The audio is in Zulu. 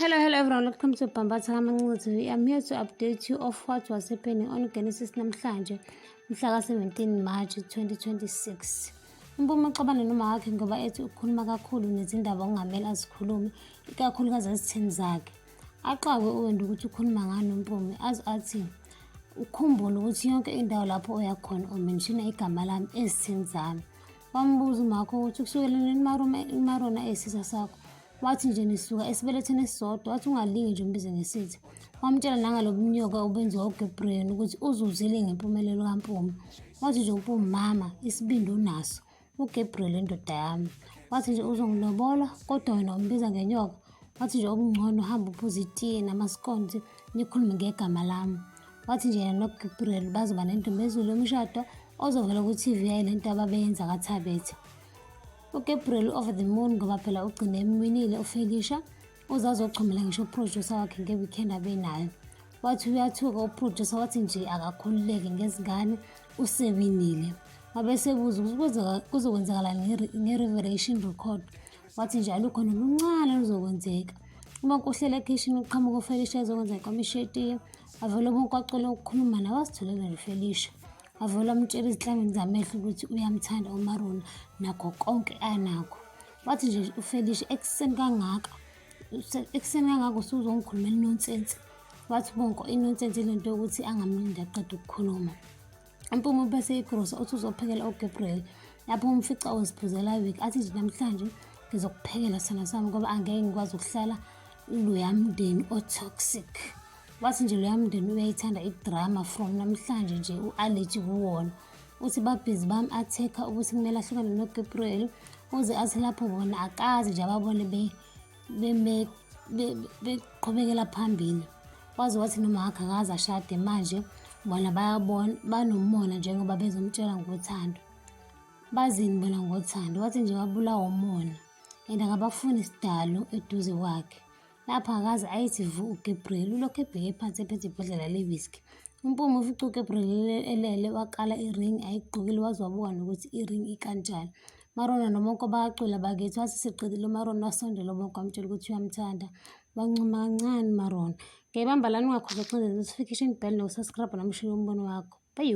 Hello, hello everyone. Welcome to Bambatha Kamancuzi. I'm here to update you of what was happening on Genesis namhlanje, mhla ka-17 March 2026. Umpuma uxabane noma wakhe ngoba ethi ukhuluma kakhulu nezindaba okungamele azikhulume, ikakhulukazi ezitheni zakhe. Axakwe uwenda ukuthi ukhuluma ngani uMpume, aze athi ukhumbule ukuthi yonke indawo lapho oya khona umenshina igama lami ezitheni zami. Wambuza umakho ukuthi kusukela nini umarona eyisisa sakho Wathi nje nisuka esibelethweni esisodwa, wathi ungalingi nje umbize ngesithi. Wamtshela nangalobunyoka obenziwa uGabriel ukuthi uzuzile ngempumelelo kaMpumi. Wathi nje uMpumi mama, isibindi unaso. UGabriel indoda yami. Wathi nje uzongilobola kodwa wena umbiza ngenyoka. Wathi nje okungcono uhamba uphuza itiye namaskonti nikhulume ngegama lami. Wathi nje yena noGabriel bazoba nentombezulu yomshado ozovela ku-TV yayo lento ababeyenza kaThabethe. uGabriel over the moon ngoba phela ugcine emwinile uFelisha uze azochomela ngisho uproducer wakhe nge-weekend abenayo wathi uyathuka uproducer wathi nje akakhululeke ngezingane usewinile wabesebuza ukuthi kuzokwenzakala nge-revelation record wathi nje alukho noluncane luzokwenzeka uma kuhlela ekhishini uqhamuka ufelisha ezokwenza ikomishetiya avele ubunkwacolo ukukhuluma nawe asitholele lifelisha Wavele wamtshela ezihlangene zamehlo ukuthi uyamthanda uMarula nakho konke anakho. Wathi nje uFelicia ekuseni kangaka ekuseni kangaka usuzongikhulumela inonsense. Wathi bonke inonsense ile nto yokuthi angamlindi aqeda ukukhuluma. Impume bese igrosa uthi uzophekela uGabriel lapho umfica uziphuzela iwiki athi nje namhlanje ngizokuphekela sona sami ngoba angeke ngikwazi ukuhlala loya mndeni o-toxic. Wathi nje loya mndeni uyayithanda idrama from namhlanje nje u-allergy kuwona. Uthi babhizi bami athekha ukuthi kumele ahlukane noGabriel uze athi lapho bona akazi nje ababone beqhubekela phambili. Waze wathi noma akhe akaze ashade manje bona bayabona banomona njengoba bezomtshela ngothando. Bazini bona ngothando wathi nje babulawa umona and akabafuni isidalo eduze kwakhe. Lapho akaze ayithi vu uGabriel ulokhu ebheke phansi ephethe ibhodlela lewiski. Umpume ufica uGabriel elele waqala iring ayigqokile waze wabuka nokuthi iring ikanjani. Marona noMonko bayacula bakithi wathi siqedile uMarona wasondela uMonko wamtshela ukuthi uyamthanda. Wancuma kancane Marona. Ngiyayibamba lana ungakhohlwa ukucindeza notification bell nokusubscribe nomshini wombono wakho. Bye.